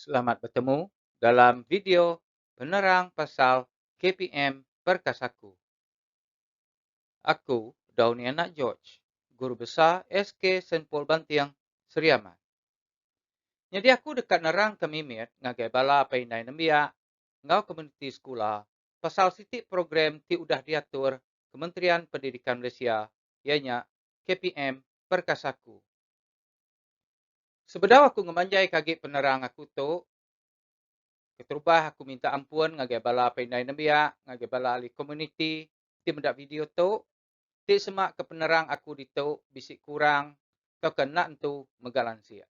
Selamat betemu dalam video penerang pasal KPM Perkasaku. Aku Downy Anak George, Guru Besar SK Senpol Banting, Seri Aman. Nyadi aku deka nerangka mimit ngagai bala apai indai nembiak enggau komuniti sekula pasal siti program ti udah diatur Kementerian Pendidikan Malaysia iya nya KPM Perkasaku. Sebedau aku ngemanjaika agi penerang aku tu, keterubah aku minta ampun ngagai bala peindai nembiak, ngagai bala ahli komuniti ti meda video tu, ti sema ke penerang aku ditu bisi kurang tauka enda entu mega lansik.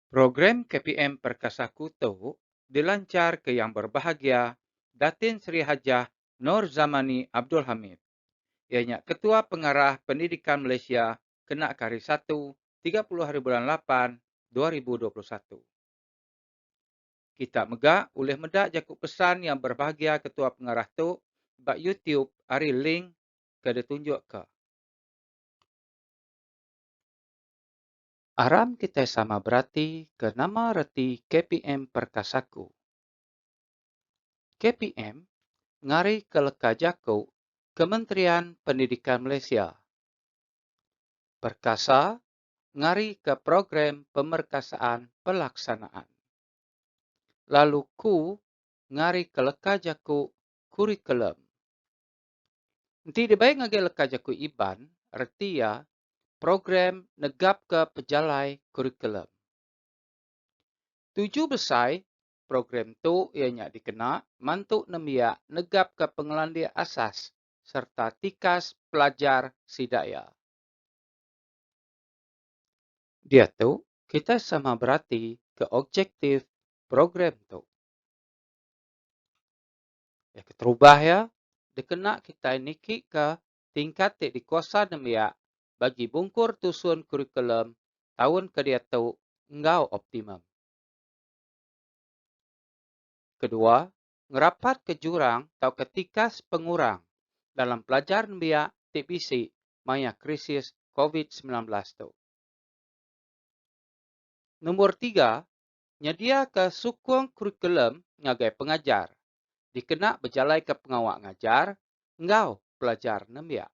Program KPM Perkasaku tu dilanchar ke Yang Berbahagia Datin Sri Hajah Nor Zamani Abdul Hamid. Iya nya Ketua Pengarah Pendidikan Malaysia kena ke Hari Satu tiga puluh Hari Bulan Lapan dua ribu dua puluh satu. Kita mega ulih meda jaku pesan Yang Berbahagia Ketua Pengarah tu ba YouTube ari link ke ditunjukka. Aram kitai sama berati ke nama reti KPM Perkasaku. KPM ngari ke leka jaku Kementerian Pendidikan Malaysia. Perkasa ngari ke program pemerkasaan pelaksanaan. Lalu ku ngari ke leka jaku kurikulum. Enti dibai ngagai leka jaku Iban, reti iya program negapka pejalai kurikulum. Tuju besai program tu iya nya dikena mantu nembiak negapka pengelandik asas sereta tikas pelajar sida iya. Diatu, kitai sama berati ke objektif program tu. Iya keterubah iya dikena kitai nikika tingkat ti dikuasa nembiak bagi bungkur tusun kurikulum taun ke diatu enggau optimum. Kedua, ngerapatka jurang tauka tikas pengurang dalam pelajar nembiak ti bisi maya krisis covid semilan belas tu. Nombor tiga, nyediaka sukung kurikulum ngagai pengajar dikena bejalaika pengawa ngajar enggau pelajar nembiak.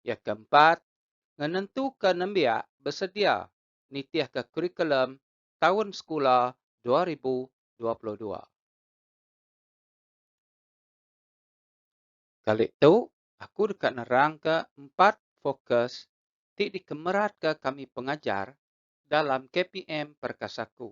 Iya ke empat, ngenentuka nembiak besedia nitihka kurikulum taun sekula dua ribu dua puluh dua. Kali tu, aku deka nerangka empat fokus ti dikemeratka kami pengajar dalam KPM Perkasaku.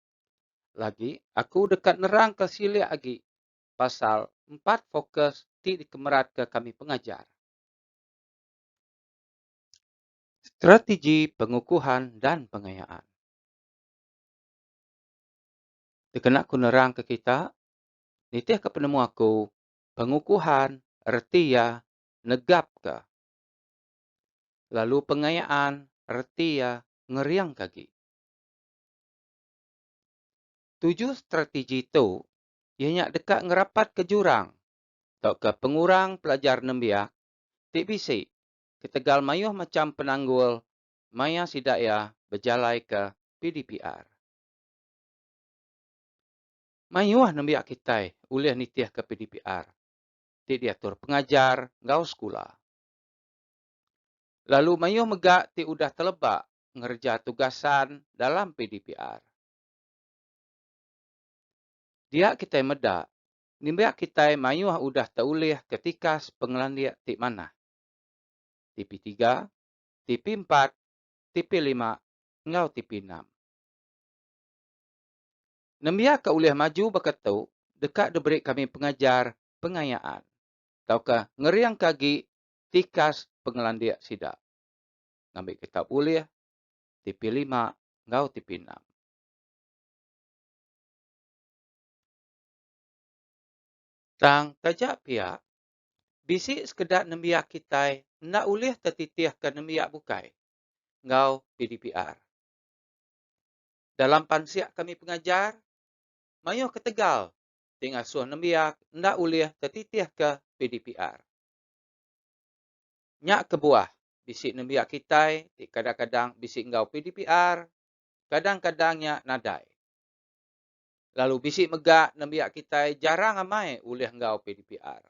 Lagi, aku deka nerangka silik agi pasal empat fokus ti dikemeratka kami pengajar. Strategi pengukuhan dan pengayaan. Dikena aku nerangka kita, nitihka penemu aku, pengukuhan reti iya negapka lalu pengayaan reti iya ngeringka agi. Tuju strategi tu iya nya deka ngerapatka jurang tauka pengurang pelajar nembiak ti bisi ketegal mayuh macham penanggul maya sida iya bejalaika PDPR. Mayuh nembiak kitai ulih nitihka PDPR ti diatur pengajar enggau sekula. Lalu mayuh mega ti udah teleba ngereja tugasan dalam PDPR. Dia kitai meda, nimbak kitai mayuh udah teulih ke tikas pengelandik ti manah. Tipi tiga, tipi empat, tipi lima enggau tipi enam. Nembiaka ulih maju baka tu deka diberi kami pengajar pengayaan tauka ngeringka agi tikas pengelandik sida. ngambi kitab ulih tipi lima enggau tipi enam. Tang taja pia, bisi sekeda nembiak kitai enda ulih tetitihka nembiak bukai enggau PDPR. Dalam pansik kami pengajar, mayuh ketegal ti ngasuh nembiak enda ulih tetitihka PDPR. Nya kebuah bisi nembiak kitai ti kadang-kadang bisi enggau PDPR, kadang-kadang nya nadai. Lalu bisi mega nembiak kitai jarang amai ulih enggau PDPR.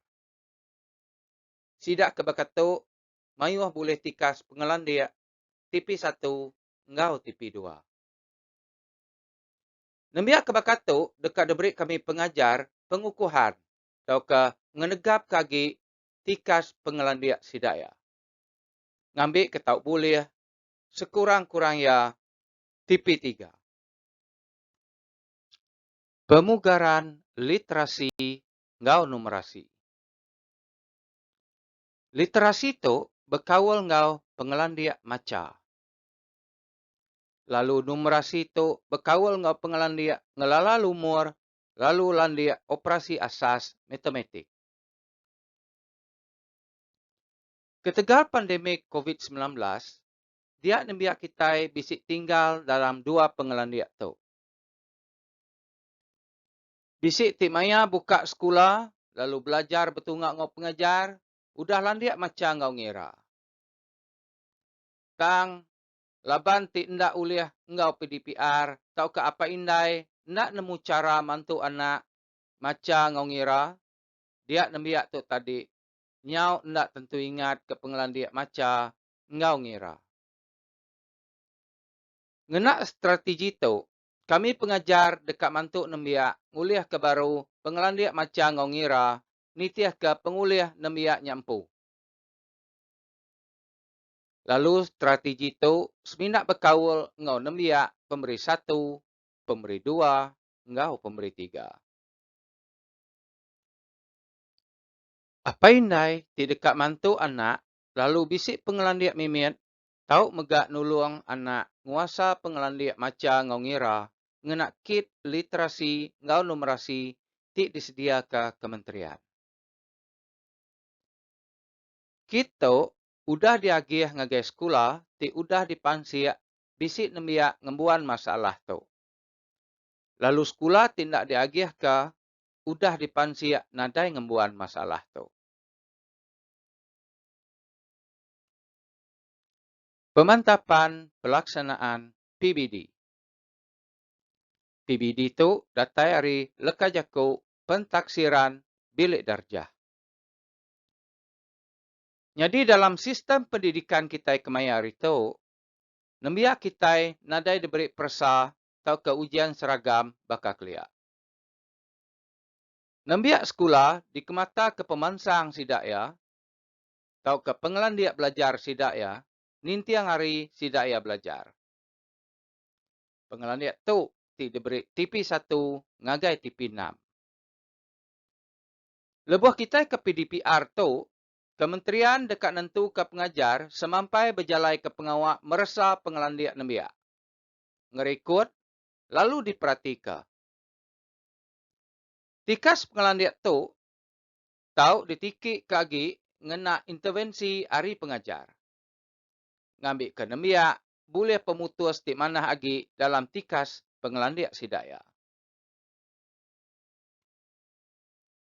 Sida ke baka tu mayuh bulih tikas pengelandik tipi satu enggau tipi dua. Nembiak ke baka tu deka diberi kami pengajar pengukuhan tauka ngenegapka agi tikas pengelandik sida iya. Ngambika tau bulih sekurang-kurang iya tipi tiga. Pemugaran literasi enggau numerasi. Literasi tu bekaul enggau pengelandik macha. Lalu numerasi tu bekaul enggau pengelandik ngelala lumur lalu landik operasi asas matematik. Ketegal pandemik Covid semilan belas, dia nembiak kitai bisi tinggal dalam dua pengelandik tu. Bisi ti maya buka sekula lalu belajar betunga enggau pengajar udah landik macha enggau ngira. Tang, laban ti enda ulih enggau PDPR tauka apai indai enda nemu chara mantu anak macha enggau ngira, Dia nembiak tu tadi nyau enda tentu ingat ke pengelandik macha enggau ngira. Ngena strategi tu, kami pengajar deka mantu nembiak ngulihka baru pengelandik macha enggau ngira nitihka pengulih nembiak nya empu. Lalu strategi tu semina bekaul enggau nembiak Pemeri Satu, Pemeri Dua enggau Pemeri Tiga. Apai indai ti deka mantu anak lalu bisi pengelandik mimit tau mega nulung anak nguasa pengelandik macha enggau ngira ngena kit literasi enggau numerasi ti disediaka kementerian. Kit tu udah diagih ngagai sekula ti udah dipansik bisi nembiak ngembuan masalah tu. Lalu sekula ti enda diagihka udah dipansik nadai ngembuan masalah tu. Pemantapan Pelaksanaan PBD PBD tu datai ari leka jaku Pentaksiran Bilik Darjah. Nyadi dalam sistem pendidikan kitai kemaya hari tu, nembiak kitai nadai diberi peresa tauka ujian seragam baka kelia. Nembiak sekula dikemataka pemansang sida iya tauka pengelandik belajar sida iya ninting hari sida iya belajar. Pengelandik tu ti diberi TP satu ngagai TP enam. Lebuh kitai ke PDPR tu, kementerian deka nentuka pengajar semampai bejalaika pengawa meresa pengelandik nembiak, ngerikut lalu diperatika Tikas pengelandik tu tau ditikika agi ngena intervensi ari pengajar. Ngambika nembiak bulih pemutus ti manah agi dalam tikas pengelandik sida iya.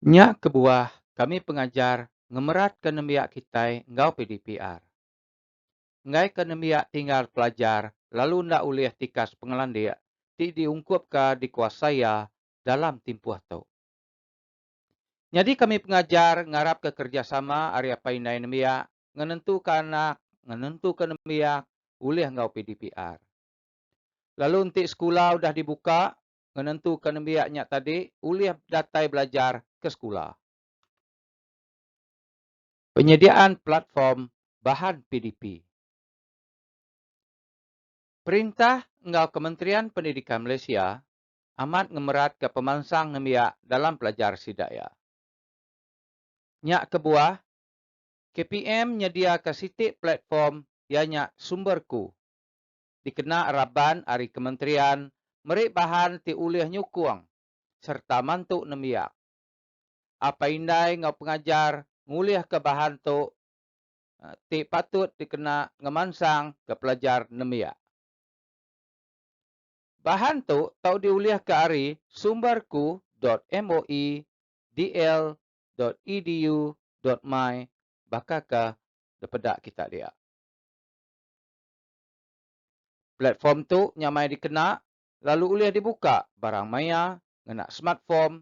Nya kebuah kami pengajar ngemeratka nembiak kitai enggau PDPR. enggaika nembiak tinggal pelajar lalu enda ulih tikas pengelandik ti diungkupka dikuasa iya dalam timpuh tu. Nyadi kami pengajar ngarapka kerejasama ari apai indai nembiak ngenentuka anak ngenentuka nembiak ulih enggau PDPR. Lalu enti sekula udah dibuka ngenentuka nembiak nya tadi ulih datai belajar ke sekula. Penyediaan platform bahan PDP. Perintah enggau Kementerian Pendidikan Malaysia amat ngemeratka pemansang nembiak dalam pelajar sida iya. Nya kebuah, KPM nyediaka siti platform iya nya Sumberku dikena raban ari kementerian meri bahan ti ulih nyukung sereta mantu nembiak apai indai enggau pengajar ngulihka bahan tu ti patut dikena ngemansang ke pelajar nembiak. Bahan tu tau diulihka ari sumberku dot moe dl dot edu dot my baka ke dipeda kita dia. Platform tu nyamai dikena lalu ulih dibuka barang maya ngena smartform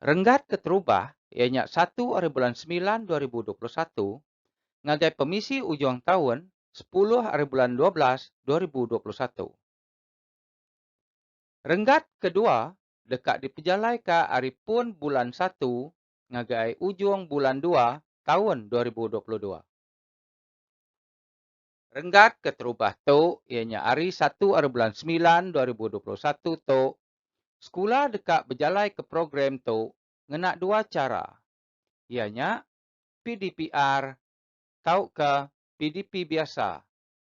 Renggat keterubah iya nya satu ari bulan semilan dua ribu dua puluh satu ngagai pemisi ujung taun sepuluh ari bulan dua belas dua ribu dua puluh satu. Renggat kedua deka dipejalaika ari pun bulan satu ngagai ujung bulan dua taun dua ribu dua puluh dua. Renggat keterubah tu iya nya ari satu ari bulan semilan dua ribu dua puluh satu tu Sekula deka bejalaika program tu ngena dua chara iya nya PDPR tauka PDP biasa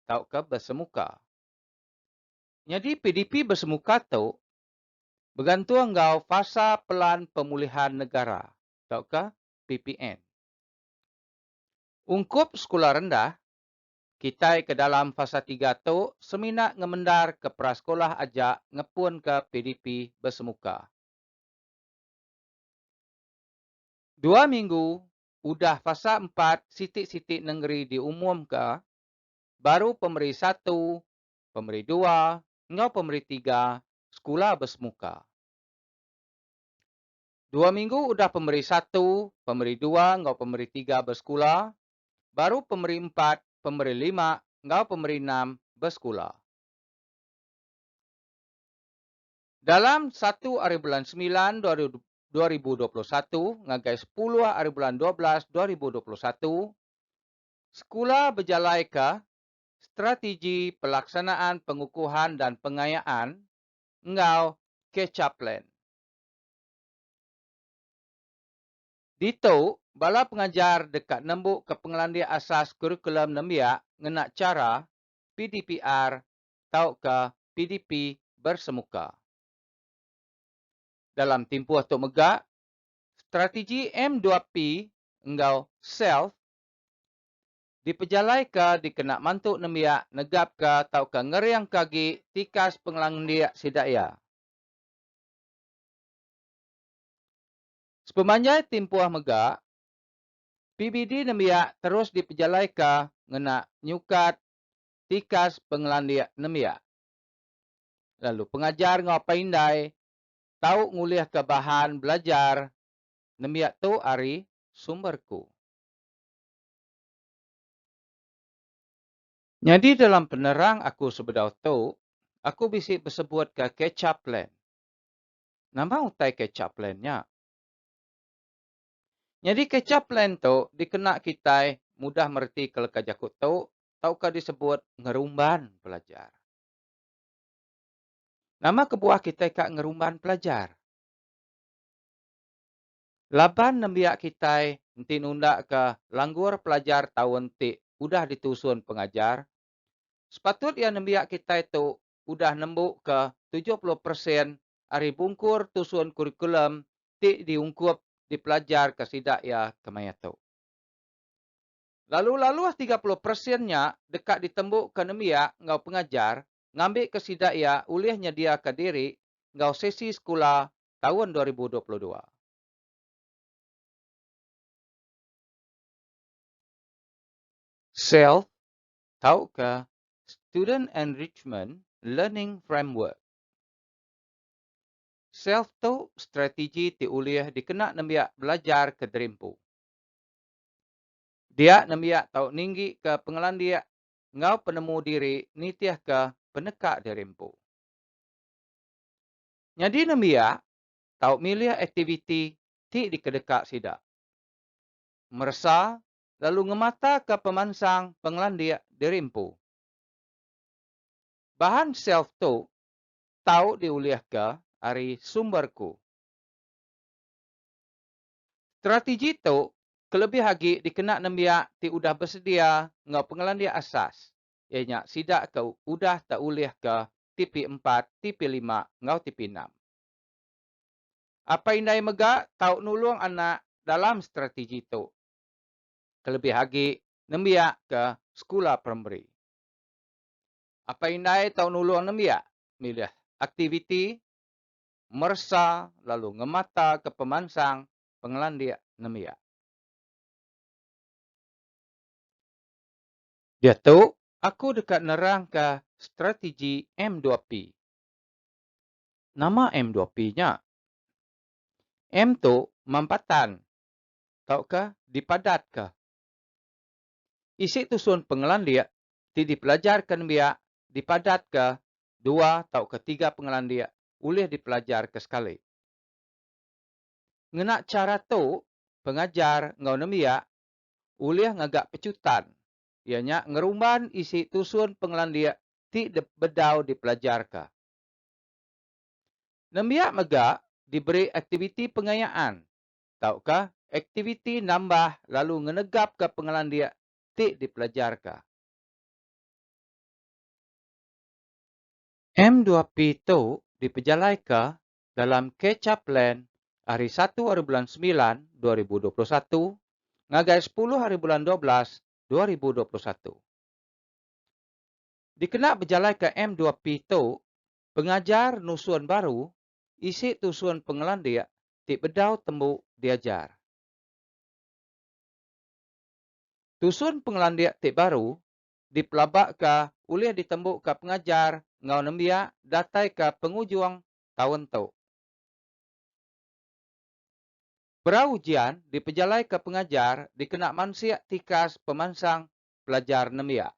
tauka besemuka. Nyadi PDP besemuka tu begantung enggau Fasa Pelan Pemulihan Negara tauka PPN. Ungkup sekula rendah Kitai ke dalam fasa tiga tu semina ngemendar ke prasekolah aja ngepunka PDP besemuka. Dua minggu udah fasa empat siti-siti nengeri diumumka baru pemeri satu, pemeri dua enggau pemeri tiga sekula besemuka. Dua minggu udah pemeri satu, pemeri dua enggau pemeri tiga besekula baru pemeri empat, pemeri lima enggau pemeri enam besekula. Dalam satu ari bulan semilan dua ribu dua puluh satu ngagai sepuluh ari bulan dua belas dua ribu dua puluh satu, sekula bejalaika Strategi Pelaksanaan Pengukuhan dan Pengayaan enggau Catch-up Plan. Ditu, bala pengajar deka nembuka pengelandik asas kurikulum nembiak ngena chara PDPR tauka PDP bersemuka. Dalam timpuh tu mega, strategi M2P enggau SELF dipejalaika dikena mantu nembiak negapka tauka ngeringka agi tikas pengelandik sida iya. Sepemanjai timpuh mega, PBD nembiak terus dipejalaika ngena nyukat tikas pengelandik nembiak, lalu pengajar enggau paindai tau ngulihka bahan belajar nembiak tu ari sumber ku. Nyadi dalam penerang aku sebedau tu, aku bisi besebutka catch-up plan Nama utai catch-up plan nya? Nyadi catch-up plan tu dikena kitai mudah meretika leka jaku tu tauka disebut ngerumban pelajar. Nama kebuah kitai ka ngerumban pelajar? Laban nembiak kitai enti nundaka langgur pelajar taun ti udah ditusun pengajar, sepatut iya nembiak kitai tu udah nembuka tujuh puluh persen ari bungkur tusun kurikulum ti diungkup dipelajarka sida iya kemaya tu. Lalu laluh tiga puluh persen nya deka ditembuka nembiak enggau pengajar ngambika sida iya ulih nyediaka diri enggau sesi sekula taun dua ribu dua puluh dua. Self, tauka Student Enrichment Learning Framework. SELF tu strategi ti ulih dikena nembiak belajar ke derimpu. Dia nembiak tau ninggika pengelandik enggau penemu diri nitihka peneka derimpu. Nyadi nembiak tau milih aktiviti ti dikedeka sida. Meresa lalu ngemataka pemansang pengelandik diri empu. Bahan self tu tau diulihka ari sumber ku. Strategi tu kelebih agi dikena nembiak ti udah besedia enggau pengelandik asas iya nya sida ke udah tau ulihka TP empat, TP lima enggau TP enam. Apai indai mega tau nulung anak dalam strategi tu kelebih agi nembiak ke sekula primari. Apai indai tau nulung nembiak milih aktiviti, meresa lalu ngemataka pemansang pengelandik nembiak. Diatu, aku deka nerangka strategi M2P. Nama M2P nya? M tu mampatan tauka dipadatka. Isi tusun pengelandik ti dipelajarka nembiak dipadatka dua tauka tiga pengelandik ulih dipelajarka sekali. Ngena chara tu, pengajar enggau nembiak ulih ngaga pechutan iya nya ngerumban isi tusun pengelandik ti bedau dipelajarka. Nembiak mega diberi aktiviti pengayaan tauka aktiviti nambah lalu ngenegapka pengelandik ti dipelajarka. MDuaP tu dipejalaika dalam Catch-up Plan ari satu ari bulan semilan dua ribu dua puluh satu ngagai sepuluh ari bulan dua belas dua ribu dua puluh satu. Dikena bejalaika MDuaP tu, pengajar nusun baru isi tusun pengelandik ti bedau tembu diajar. Tusun pengelandik ti baru dipelabaka ulih ditembuka pengajar enggau nembiak datai ke pengujung taun tu. Perau ujian dipejalaika pengajar dikena mansik tikas pemansang pelajar nembiak.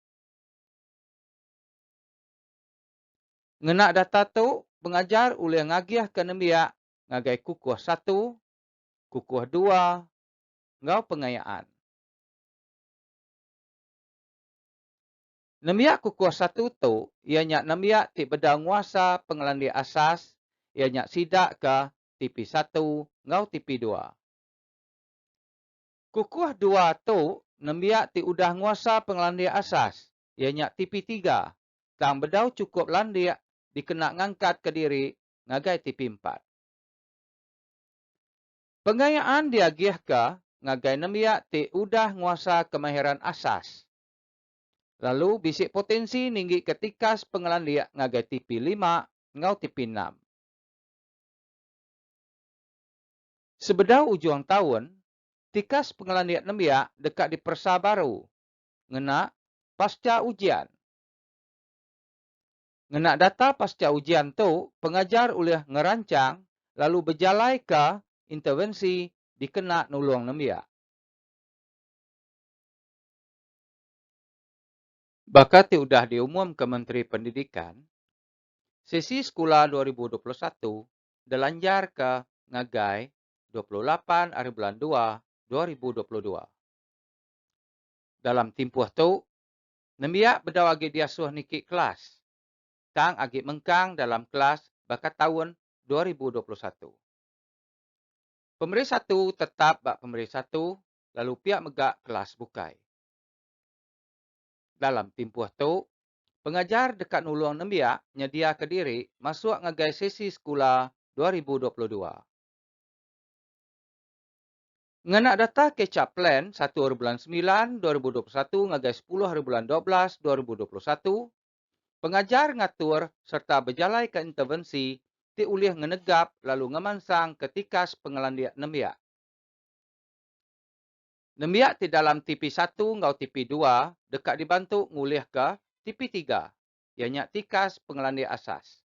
Ngena data tu, pengajar ulih ngagihka nembiak ngagai kukuh satu, kukuh dua enggau pengayaan. Nembiak kukuh satu tu iya nya nembiak ti bedau nguasa pengelandik asas iya nya sida ke tipi satu enggau tipi dua. Kukuh dua tu nembiak ti udah nguasa pengelandik asas iya nya tipi tiga tang bedau chukup landik dikena ngangkat kediri ngagai tipi empat. Pengayaan diagihka ngagai nembiak ti udah nguasa kemahiran asas lalu bisi potensi ninggika tikas pengelandik ngagai tipi lima enggau tipi enam. Sebedau ujung taun, tikas pengelandik nembiak deka diperesa baru ngena pasca ujian. Ngena data pasca ujian tu pengajar ulih ngerancang lalu bejalaika intervensi dikena nulung nembiak. Baka ti udah diumumka Menteri Pendidikan, sesi sekula dua ribu dua puluh satu delanjarka ngagai dua puluh lapan ari bulan dua dua ribu dua puluh dua. Dalam timpuh tu, nembiak bedau agi diasuh niki kelas, tang agi mengkang dalam kelas baka taun dua ribu dua puluh satu. Pemeri satu tetap ba pemeri satu lalu pia mega kelas bukai. Dalam timpuh tu, pengajar deka nulung nembiak nyediaka diri masuk ngagai sesi sekula dua ribu dua puluh dua. Ngena data Kecap Plan satu ari bulan semilan dua ribu dua puluh satu ngagai sepuluh ari bulan dua belas dua ribu dua puluh satu, pengajar ngatur sereta bejalaika intervensi ti ulih ngenegap lalu ngemansangka tikas pengelandik nembiak. Nembiak ti dalam TP satu enggau TP dua deka dibantu ngulihka TP tiga, iya nya tikas pengelandik asas.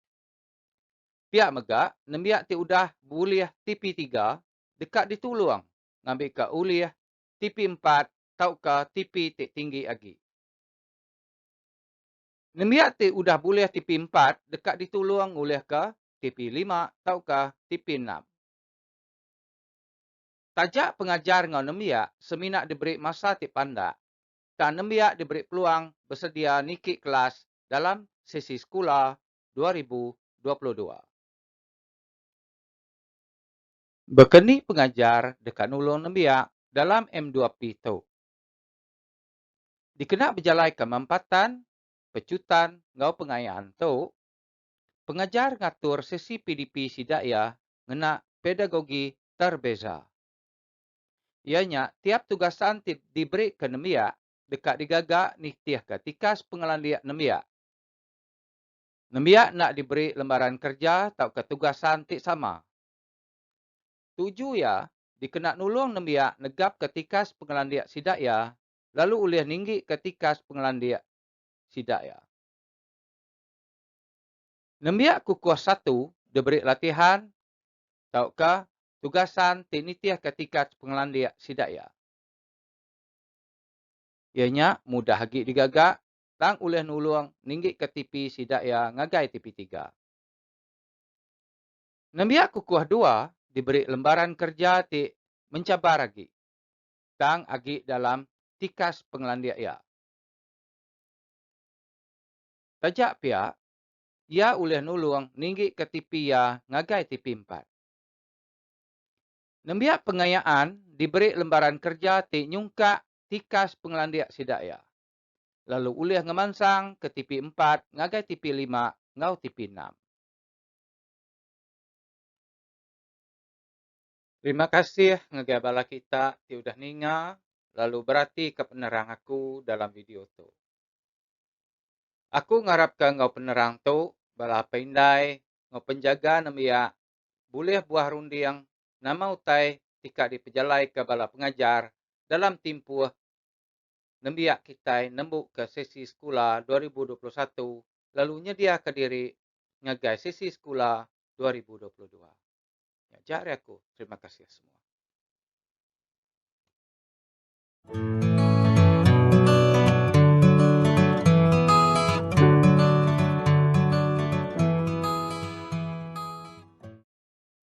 Pia mega, nembiak ti udah bulih TP tiga deka ditulung ngambika ulih tipi empat tauka tipi ti tinggi agi. Nembiak ti udah bulih tipi empat deka ditulung ngulihka tipi lima tauka tipi enam. Taja pengajar enggau nembiak semina diberi masa ti pandak, tang nembiak diberi peluang besedia niki kelas dalam sesi sekula dua ribu dua puluh dua. Baka ni pengajar deka nulung nembiak dalam MDuaP tu? Dikena bejalaika mampatan, pechutan enggau pengayaan tu, pengajar ngatur sesi PDP sida iya ngena pedagogi terbeza. Iya nya tiap tugasan ti diberika nembiak deka digaga nitihka tikas pengelandik nembiak. Nembiak enda diberi lembaran kerja tauka tugasan ti sama. Tuju iya dikena nulung nembiak negapka tikas pengelandik sida iya lalu ulih ninggika tikas pengelandik sida iya. Nembiak kukuh satu diberi latihan tauka tugasan ti nitihka tikas pengelandik sida iya. Iya nya mudah agi digaga tang ulih nulung ninggika tipi sida iya ngagai tipi tiga. Nembiak kukuh dua diberi lembaran kerja ti mencabar agi tang agi dalam tikas pengelandik iya. Taja pia, iya ulih nulung ninggika tipi iya ngagai tipi empat. Nembiak pengayaan diberi lembaran kerja ti nyungkak tikas pengelandik sida iya. lalu ulih ngemansang ke tipi empat ngagai tipi lima enggau tipi enam. Terima kasih ngagai bala kita ti udah ninga lalu beratika penerang aku dalam video tu. Aku ngarapka enggau penerang tu bala apai indai enggau penjaga nembiak bulih buah runding nama utai ti ka dipejalaika bala pengajar dalam timpuh nembiak kitai nembuka sesi sekula dua ribu dua puluh satu lalu nyediaka diri ngagai sesi sekula dua ribu dua puluh dua. Nya aja ari aku. Terima kasih semua.